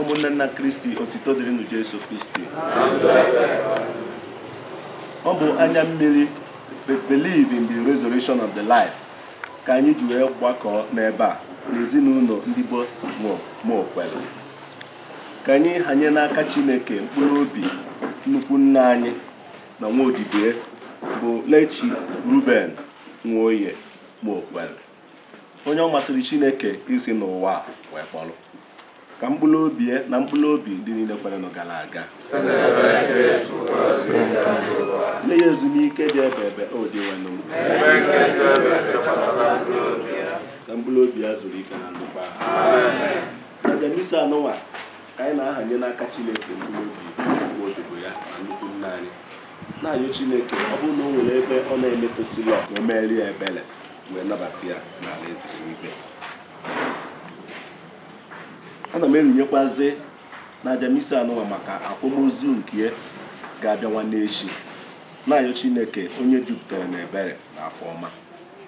ụmụnne m na kristi otito dịrịnụ jesu kristi ọ bụ anya mmiri believe in the resurrection of life ka anyị ji wee gbakọọ n'ebe a n'ezinụlọ ndị be Mokwere ka anyị hanye n'aka Chineke mkpụrụ obi nnukwu nna anyị na nwa odibo bụ Late Ruben Nwoye Mokwere onye ọ masịrị Chineke isi n'ụwa a wee kpọrọ ka mkpụrụ obi ya na mkpụrụ obi ndị niile kwerenụ gara aga nye ya ezumike dị ebe ebe o Dinwenụ m ka mkpụrụ obi ya zuru ike na ndokwa n'aja misa anụnwa ka anyị na-ahanye n'aka Chineke mkpụrụ obi nnukwu odibo ya na nnukwu nna anyị na-ayọ Chineke ọ bụrụ na o nwere ebe ọ na-emetụsịrị ọ ka o meere ya ebere wee nabata ya n'ala eze eluigwe ana m erunyekwazi n'aja misa anụwa maka akwamozu nke ya ga-abịa nwanne echi na-ayọ Chineke onye jupụtara na ebere na afọ ọma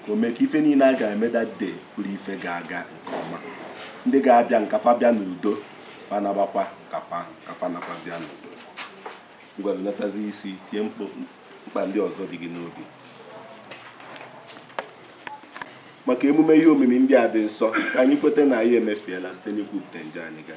ka o mee ka ife niile a ga-eme that day bụrụ ife ga-aga nke ọma ndị ga-abịa ka fa bịa n'udo fa nabakwa ka fa ka fa nakwazịa n'udo ngwa runatazi isi tiye mkpa ndị ọzọ dị gị n'obi maka emume ihe omimi ndị a dị nsọ ka anyị kweta na anyị emefiela site n'ikwupụta njọ anyị ga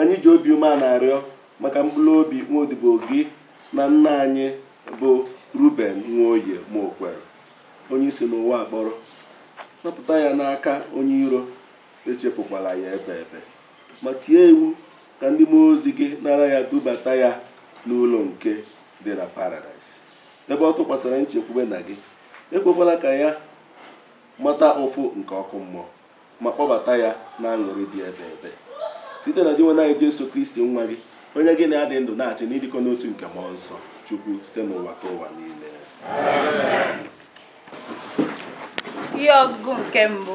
Anyị ji obi umeana arịọ maka mkpụrụ obi nwodibo gị na nna anyị bụ Ruben Nwoye Mokwere, onye i si n'ụwa a kpọrọ. Napụta ya n'aka onye iro, echefukwala ya ebe ebe. Ma tie iwu ka ndị mmụọ ozi gị nara ya dubata ya n'ụlọ nke dị na paradaịs, ebe ọ tụkwasịrị nchekwube na gị. Ekwekwala ka ya mata ụfụ nke ọkụ mmụọ. ma kpọbata ya na aṅụrị dị ebe ebe site na Dinwenụ anyị Jesu Kristi nwa gị onye gị na ya dị ndụ na-achị n'ịdịkọ n'otu nke mmụọ nsọ Chukwu site n'ụwatụwa niile ihe ọgụgụ nke mbụ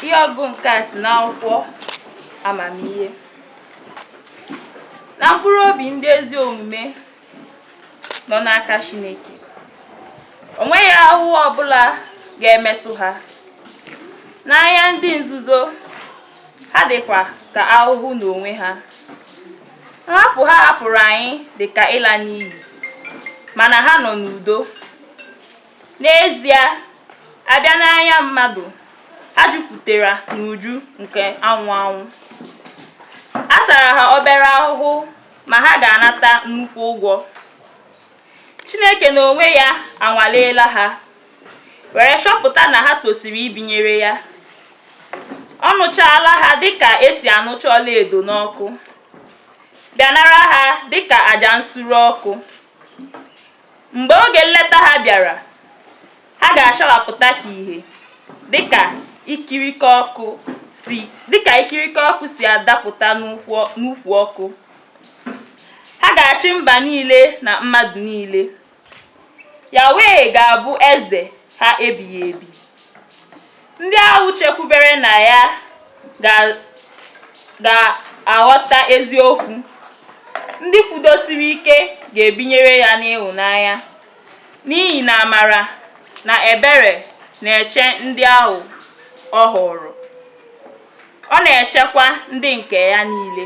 ihe ọgụgụ nke a si n'akwụkwọ amamihe na mkpụrụ obi ndị ezi omume nọ n'aka Chineke o nweghị ahụhụ ọbụla ga-emetụ ha n'anya ndị nzuzu ha dịkwa ka ahụhụ n'onwe ha nhapụ ha hapụrụ anyị dị ka ịla n'iyi mana ha nọ n'udo n'ezie a bịa n'anya mmadụ ha jupụtara n'uju nke anwụ anwụ a tara ha obere ahụhụ ma ha ga-anata nnukwu ụgwọ. Chineke n'onwe ya anwaleela ha were chọpụta na ha tosiri ibinyere ya. Ọ nụchaala ha dịka e si anụcha ọlaedo n'ọkụ, bịa nara ha dịka aja nsure ọkụ. Mgbe oge nleta ha bịara, ha ga-achawapụta ka ihe, dịka ikirike ọkụ si adapụta n'ukwu ọkụ. Ha ga-achị mba niile na mmadụ niile. Yahweh ga-abụ eze ha ebighị ebi. Ndị ahụ chekwubere na ya ga-aghọta eziokwu, ndị kwudosiri ike ga-ebinyere ya n'ịhụnanya, n'ihi na amara na ebere na-eche ndị ahụ ọ họọrọ, ọ na-echekwa ndị nke ya niile.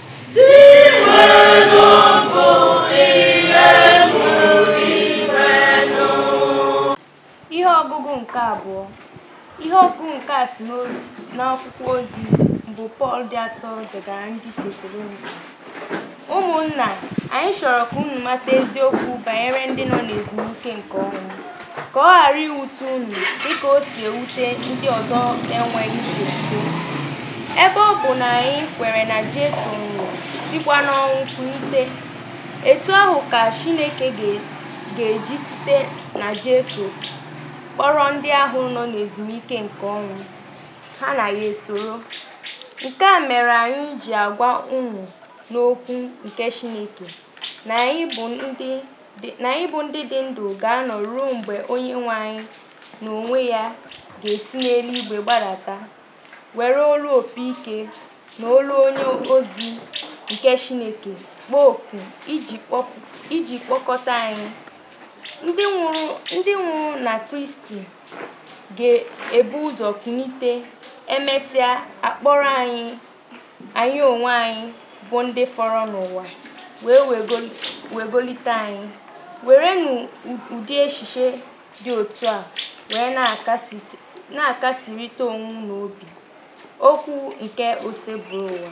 ihe ọgụgụ nke abụọ ihe ọgụgụ nke a si n'akwụkwọ ozi mbụ pọl dị asọ degara ndị tesalonika ụmụnna anyị chọrọ ka unu mata eziokwu banyere ndị nọ n'ezumike nke ọnwụ ka ọ ghara iwute unu dịka o si ewute ndị ọzọ enweghị nchekwube. Ebe ọ bụ na anyị kwere na Jesu nwụrụ sikwa n'ọnwụ kulite, etu ahụ ka Chineke ga-eji site na Jesu kpọrọ ndị ahụ nọ n'ezumike nke ọnwụ, ha na ya esoro. Nke a mere anyị ji agwa unu n'okwu nke Chineke na anyị bụ ndị na anyị bụ ndị dị ndụ ga-anọ ruo mgbe Onyenwe anyị n'onwe ya ga-esi n'eluigwe gbadata were olu opi ike na olu onye ozi nke Chineke kpọọ oku iji kpọkọta anyị ndị nwụrụ na Kristi ga-ebu ụzọ kunite e mesịa a kpọrọ anyị anyị onwe anyị bụ ndị fọrọ n'ụwa wee wegolite anyị werenụ ụdị echiche dị otu a were na-akasịrịta onwe unu obi okwu nke oseburụwa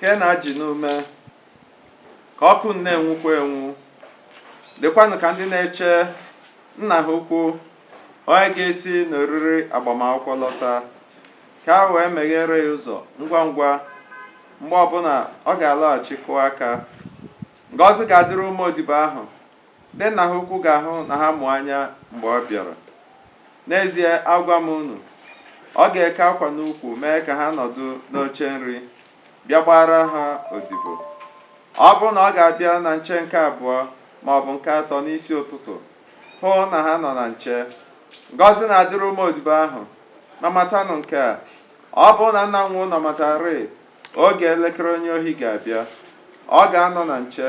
keenụ ajị n'ume ka ọkụ unu na-enwukwa enwu dịkwanụ ka ndị na-eche nna ha ukwu onye ga-esi n'oriri agbamakwụkwọ lọta ka ha wee meghere ya ụzọ ngwa ngwa mgbe ọbụla ọ ga-alọghachi kụọ aka ngọzi ga-adịrị ụmụ odibo ahụ Ndị nna ha ukwu ga-ahụ na ha mụ anya mgbe ọ bịara. N'ezie, agwa m unu, ọ ga-eke akwa n'ukwu mee ka ha nọdụ n'oche nri, bịa gbaara ha odibo. Ọ bụrụ na ọ ga-abịa na nche nke abụọ ma ọ bụ nke atọ n'isi ụtụtụ, hụ na ha nọ na nche. Ngọzi na-adịrị ụmụ odibo ahụ. Ma matanụ nke a, ọ bụrụ na nna nwe ụlọ matarịị oge elekere onye ohi ga-abịa, ọ ga-anọ na nche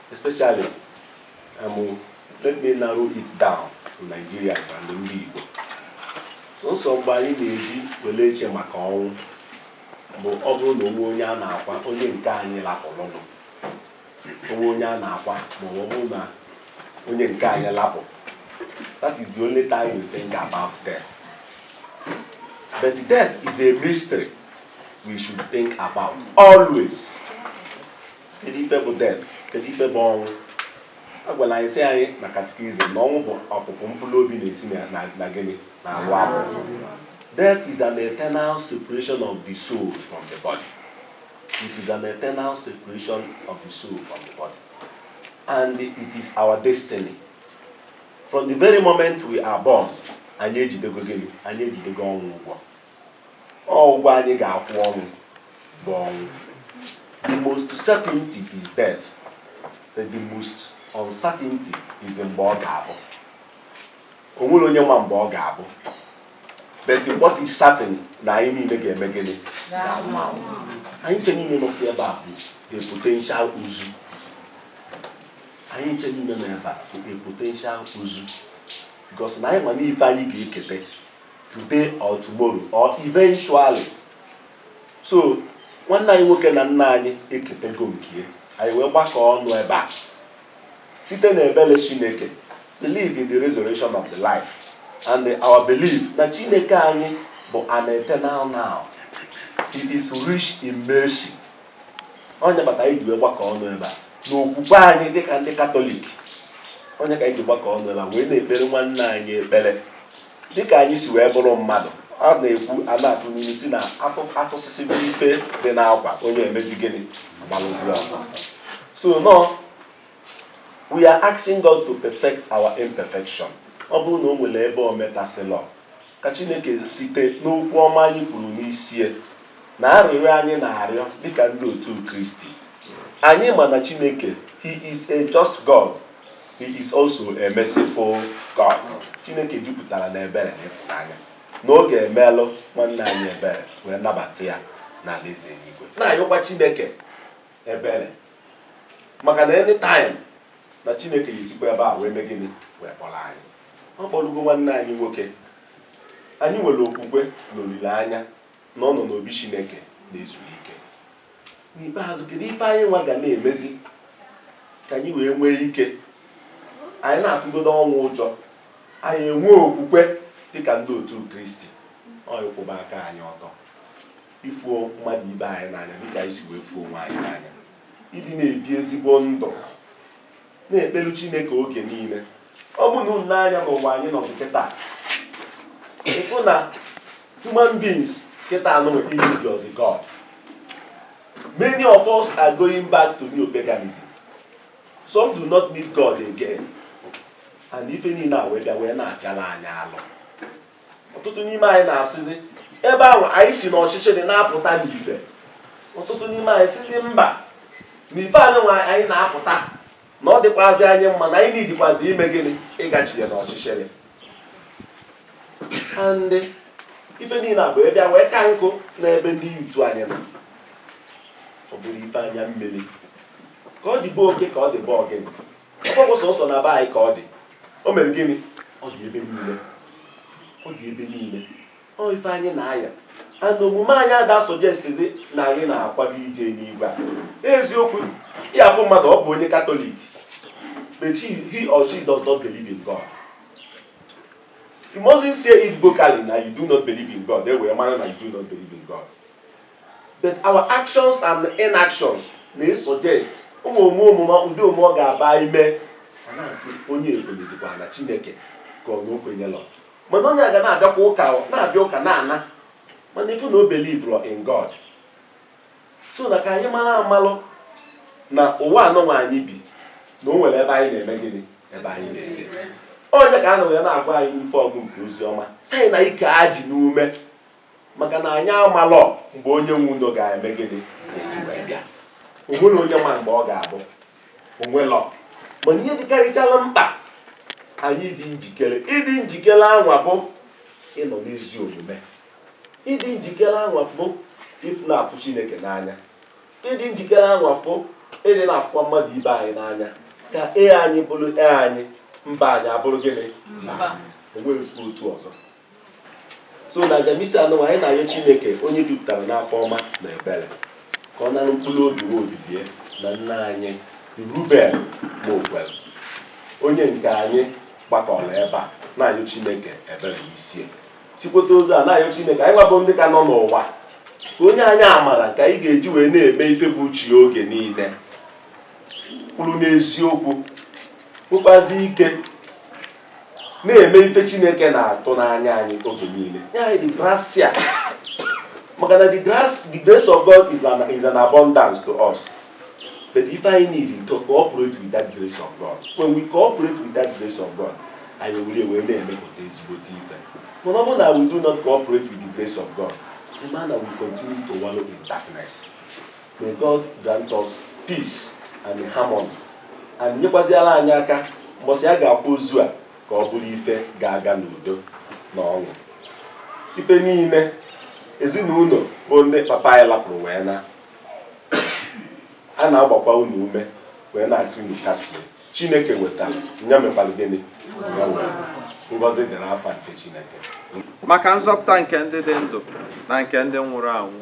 especially um, let me narrow it down to Nigeria and ndị Igbo sọsọ mgbe anyị na-eji wele eche maka ọnwụ bụ ọ bụrụ na o nwee onye a na-akwa onye nke anyị lapụrụnụ o nwee onye a na-akwa ma ọ bụrụ na onye nke anyị lapụ that is the only time we think about death but death is a mystery we should think about always kedu ife bụ death kedu ife bụ ọnwụ a gwara anyị sị anyị na katikizim na ọnwụ bụ ọpụpụ mkpụrụ obi na-esi na- na- na gịnị na arụ arụ death is an eternal separation of the soul from the body it is an eternal separation of the soul from the body and it is our destiny from the very moment we are born anyị ejidego gịnị anyị ejidego ọnwụ ụgwọ ọnwụ ụgwọ anyị ga-akwụ ọnwụ bụ ọnwụ the most certainty is death the most uncertainty is mgbe ọ ga-abụ o nwere onye ma mgbe ọ ga-abụ but what is certain na anyị niile ga-eme gịnị anyị ncha niile nọsi ebe a bụ a potential ozu anyị ncha niile nọ ebe a bụ a potential ozu because na anyị ma n'ife anyị ga-eketa today or tomorrow or eventually so nwanne anyị nwoke na nna anyị eketego nke anyị wee gbakọ ọnụ ebe a site na ebele chineke believe in the resurrection of the life and our belief na chineke anyị bụ an eternal now he is rich in mercy ọ nya maka anyị ji wee gbakọ ọnụ ebe a n'okwukwe anyị dịka ndị katọlik ọ nya ka anyị ji gbakọ ọnụ ebe a wee na-ekpere nwanne anyị ekpere dịka anyị si wee bụrụ mmadụ a na-ekwu a na-atụ n'ilu sị na afọ afụsịsị bụ ife dị n'akwa onye emezi gịnị agbalụzuru akwa so na we are asking God to perfect our imperfection ọ bụrụ na o nwere ebe o metasịlọ ka Chineke site n'okwu ọma anyị kwuru n'isi ya na arịrịọ anyị na-arịọ dịka ndị otu Kristi anyị ma na Chineke he is a just God he is also a merciful God Chineke jupụtara na ebere na ịfụnanya na ọ ga-emelu nwanne anyị ebere wee nabata ya n'ala eze eluigwe na-ayọkwa Chineke ebere maka na anytime na Chineke ga-esikwa ebe a wee mee gịnị wee kpọrọ anyị ọ kpọrọgo nwanne anyị nwoke anyị nwere okwukwe na olileanya na ọ nọ n'obi Chineke na-ezu ike n'ikpeazụ kedu ife anyị nwa ga na-emezi ka anyị wee nwee ike anyị na-atụgodo ọnwụ ụjọ anyị enwee okwukwe dịka ndị otu kristi ọ ịkwụba aka anyị ọtọ ịfụ mmadụ ibe anyị n'anya dịka anyị si wee fụ onwe anyị n'anya ịdị na-ebi ezigbo ndụ na-ekpelu Chineke oge niile ọ bụ na unu nee anya n'ụwa anyị nọ kịta ị fụ na human beings kịta aneedirọzi God many of us are going back to neopaganism some do not need God again and ife niile a wee bịa wee na-afịala anyị arụ ọtụtụ n'ime anyị na-asịzi ebe anwa anyị si n'ọchịchịrị na-apụta n'ife ọtụtụ n'ime anyị sizi mba na ife anwa anyị na-apụta na ọ dịkwazi anyị mma na anyị needikwazi ime gịnị ịgachigha n'ọchịchịrị and ife niile a wee bịa wee ka njọ n'ebe ndị youth anyị nọ ọ bụrụ ife anya mmiri ka ọ dị be oke ka ọ dị be ogini ọ bụ sọsọ na be anyị ka ọ dị o mere gịnị ọ dị ebe niile ọ dị ebe niile ọ ife anyị na-aya and omume anyị ada asuggestizi na anyị na-akwado ije n'igwe a eziokwu ị ya-afụ mmadụ ọ bụ onye katọlik but he, he or she does not believe in God you mustn't say it vocally na you do not believe in God e wee mara na you do not believe in God But our actions and inactions may suggest ụmụ omume omume ụdị omume ọ ga-aba ime a na-asị onye a ekwenyezikwa na Chineke ka ọ na o kwenyelọ mana onye a ga na-abịakwa ụka na-abịa ụka na-ana mana ị fụ na o believerọ in God so na ka anyị mara amalụ na ụwa anụnwa anyị bi na o nwere ebe anyị na-eme gịnị ebe anyị na-eje onye ka a na wee na-agwa anyị n'ife ọgụ nke ozi ọma sị anyị na ike a ji n'ume maka na anyị amalọ mgbe onye nwe ụnọ ga-eme gịnị eji bịa o nwere onye ma mgbe ọ ga-abụ o nwelọ mana ihe dịkarịchala mkpa anyị dị njikere ịdị njikere anwa bụ ịnọ n'ezi omume ịdị njikere anwa bụ ịfụ na-afụ Chineke n'anya ịdị njikere anwa bụ ịdị na-afụkwa mmadụ ibe anyị n'anya ka ee anyị bụrụ ee anyị mba anyị abụrụ gịnị mba o nweghị otu ọzọ so n'aja misa anụwa anyị na-arịọ chineke onye jupụtara n'afọ ọma na ebere ka ọ nara mkpụrụ obi nwa odibo ya na nna anyị ruben mokwere onye nke anyị gbakọrọ ebe a na-arịọ chineke ebere n'isi ya sikweta ozu a na-arịọ chineke anyị nwa bụ ndị ka nọ n'ụwa ka o nye anyị amara ka anyị ga-eji wee na-eme ife bụ uche ya oge niile kwụrụ n'eziokwu kwụkwasi ike na-eme ife chineke na-atụ n'anya anyị oge niile nye anyị the gracia maka na the grace the grace of God is an, is an abundance to us but if I need to cooperate with that grace of God when we cooperate with that grace of God anyị were wee na-emepụta ezigbote ife mana ọ bụrụ na we do not cooperate with the grace of God the man will continue to wallow in darkness May God grant us peace and harmony. And nyekwaziala anyị aka mbọsị a ga-akwa ozu a ka ọ bụrụ ife ga-aga n'udo na ọṅụ ife niile ezinụlọ bụ ndị papa anyị lapụrụ wee naa a na-agbakwa unu ume wee na-asị unu kasie chineke wetara nya mekwara gịnị ngọzi dịrị afa nke chineke maka nzọpụta nke ndị dị ndụ na nke ndị nwụrụ anwụ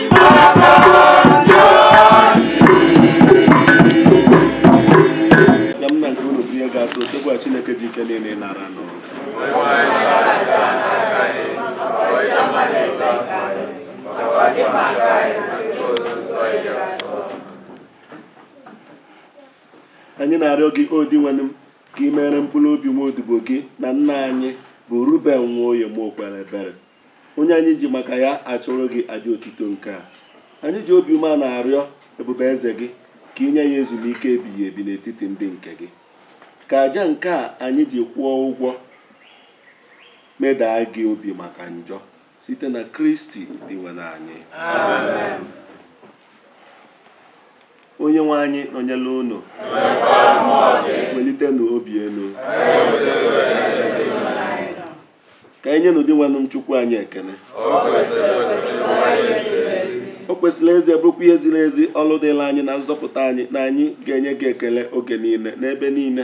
Chineke ji ike niile nara n'ụwa anyị na-arịọ gị o Dinwenụ m ka ị mere mkpụrụ obi nwa odibo gị na nna anyị bụ Ruben Nwoye Mokwere ebere onye anyị ji maka ya achụrụ gị aja otito nke a anyị ji obi umeana arịọ ebube eze gị ka i nye ya ezumike ebighị ebi n'etiti ndị nke gị ka aja nke a anyị ji kwụọ ụgwọ medaa gị obi maka njọ site na kristi dinwenụ anyị onye nwe anyị nọnyela unu welitenụ obi elu ka anyị nyenụ Dinwenụ m Chukwu anyị ekele o kwesịrị ezie bụrụkwa ihe ziri ezi ọlụ dịlị anyị na nzọpụta anyị na anyị ga-enye gị ekele oge niile n'ebe niile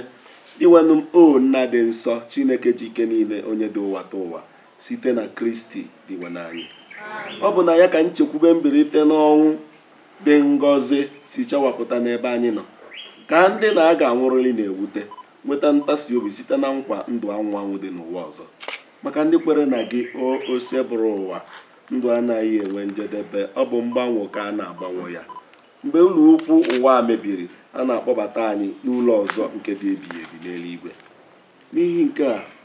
Dinwenụ m o nna dị nsọ Chineke ji ike niile onye dị ụwatụwa site na Kristi Dinwenụ anyị ọ bụ na ya ka nchekwube mbilite n'ọnwụ dị ngọzi si chawapụta n'ebe anyị nọ ka ndị na a ga-anwụrịrị na-ewute Nweta ntasi obi site na nkwa ndụ anwụ anwụ dị n'ụwa ọzọ. Maka ndị kwere na gị, o Osebụrụwa, ndụ anaghị enwe njedebe, ọ bụ mgbanwe ka a na-agbanwe ya. Mgbe ụlọ ukwu ụwa a mebiri, a na-akpọbata anyị n'ụlọ ọzọ nke dị ebighị ebi n'eluigwe. N'ihi nke a,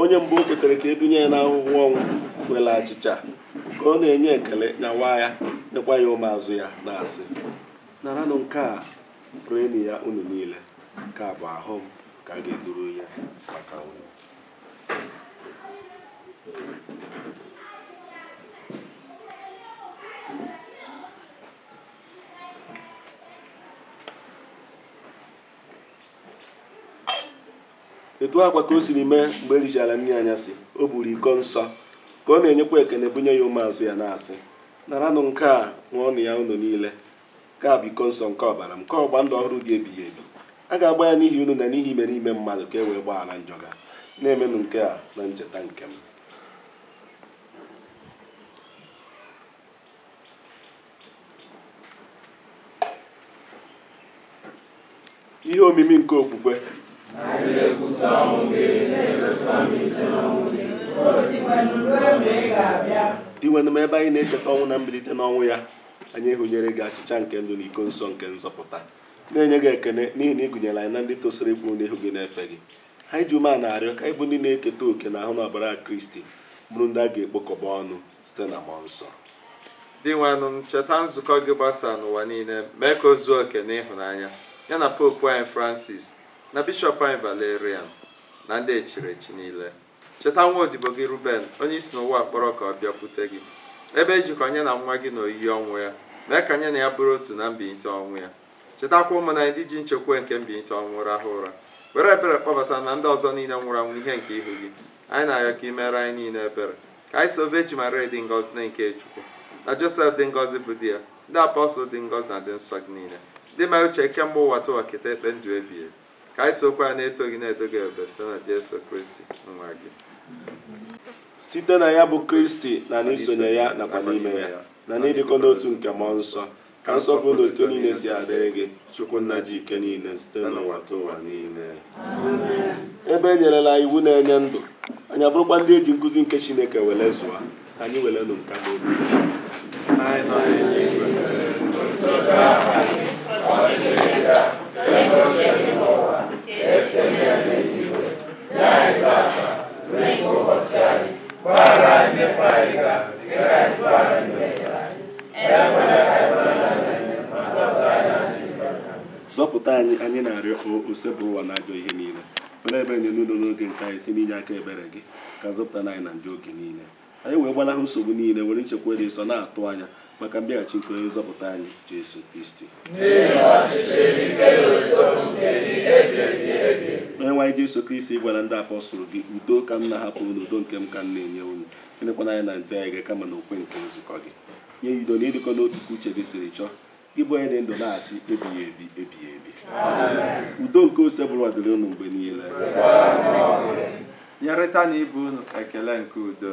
onye mgbe o kwetere ka e dunye ya n'ahụhụ ọnwụ were achịcha ka ọ na-enye ekene nyawa ya nyekwa ya ụmụazụ ya na-asị naranụ nke a rienụ ya unu niile nke a bụ ahụ m nke a ga-eduru ya maka unu etu a kwa ka o siri mee mgbe e richara nri anyasị o buru iko nsọ ka ọ na-enyekwa ekene bunye ya ụmụazụ ya na-asị naranụ nke a ṅụọnụ ya unu niile nke a bụ iko nsọ nke ọbara m nke ọgba ndụ ọhụrụ dị ebighị ebi a ga-agba ya n'ihi unu na n'ihi imerime mmadụ ka e wee gbaghara njọ ga na-emenụ nke a na ncheta nke m ihe omimi nke okwukwe dinwenụ m ebe anyị na-echeta ọnwụ na mbilite n'ọnwụ ya anyị hunyere gị achịcha nke ndụ na iko nsọ nke nzọpụta na-enye gị ekene n'ihi na ị gụnyere anyị na ndị tosiri ịkwụ n'ihu gị na-efe gị anyị ji umeana arịọ ka anyị bụ ndị na-eketa oke n'ahụ na ọbara Kristi bụrụ ndị a ga-ekpokọba ọnụ site na mmụọ nsọ dinwenụ m cheta nzukọ gị gbasara n'ụwa niile mee ka o zuo oke n'ịhụnanya ya na popu anyị francis na bishọp anyị valerian na ndị e chiri echi niile cheta nwa odibo gị ruben onye i si n'ụwa a kpọrọ ka ọ bịakwute gị ebe e jikọ nya na nwa gị n'oyiyi ọnwụ ya mee ka nya na ya bụrụ otu na mbilite ọnwụ ya chetakwa ụmụnna anyị ndị ji nchekwube nke mbilite ọnwụ rahụ ụra were ebere kpọbata na ndị ọzọ niile nwụrụ anwụ ihe nke ihu gị Anyị na-arịọ ka i meere anyị niile ebere, ka anyị so Vejin Maria dị ngọzi nne nke Chukwu, na Josef dị ngọzi bụ di ya, ndị apọstụl dị ngọzi na ndị nsọ gị niile, ndị mere uche kemgbe ụwatụwa keta ekpe ndụ ebighị ebi. Ka anyị sokwa ha na-eto gị na-edo gị ebube site na Jesu Kristi nwa gị. site na ya bụ Kristi na n'isonye ya nakwa n'ime ya na n'ịdịkọ n'otu nke mmụọ nsọ Ka nsọpụrụ na otito niile si adịrị gị, Chukwu nna ji ike niile site n'ụwatụwa niile. Ebe e nyerela iwu na-enye ndụ, anyị abụrụkwa ndị e ji nkuzi nke Chineke were zụọ, ka anyị werenụ nka zọpụta anyị anyị na-arịọ Osebụrụwa n'ajọ ihe niile were ebere nye udo n'oge nke anyị si n'inye aka ebere gị ka zọpụta anyị na njọ oge niile anyị wee gbalahụ nsogbu niile were nchekwa dị nsọ na-atụ anya maka mbịaghachi nke onye nzọpụta anyị Jesu Kristi onye nwe anyị Jesu Kristi gwara ndị apọstụl gị udo ka m na-ahapụ unu udo nke m ka m na-enye unu elekwana anya na njọ anyị kama n'okwukwe nke nzukọ gị nye ya udo na ịdịkọ n'otu ka uche gị siri chọọ gị bụ onye dị ndụ na-achị ebighị ebi ebighị ebi udo nke Osebụrụwa dịrị unu mgbe niile nyerịtanụ ibe unu ekele nke udo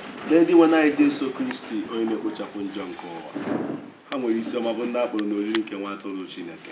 Nee Dinwenụ anyị Jesu Kristi onye na-ekpochapụ njọ nke ụwa ha nwere isi ọma bụ ndị a kpọrọ n'oriri nke nwa atụrụ Chineke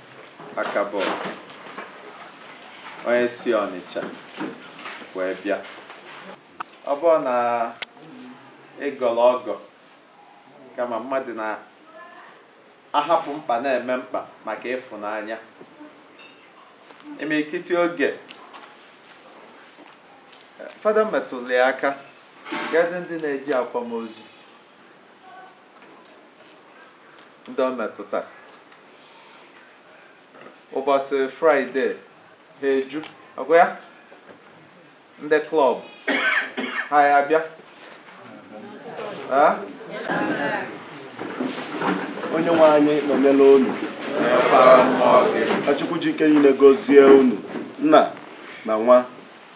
aka bọọlụ onye si Ọnịcha wee bịa ọ bụrọ na ịgọrọ ọgọ kama mmadụ na-ahapụ mkpa na-eme mkpa maka ịfụnanya imirikiti oge fada metụrụ ya aka kedụ ndị na-eje akwamozu ndị ọ metụta ụbọchị fraịde ha eju ọgwa ya ndị klọb ha abịa Ah? onye nwe anyị nọnyere unu Nọnyekwara mmụọ gị. ka chukwu ji ike niile gọzie unu nna na nwa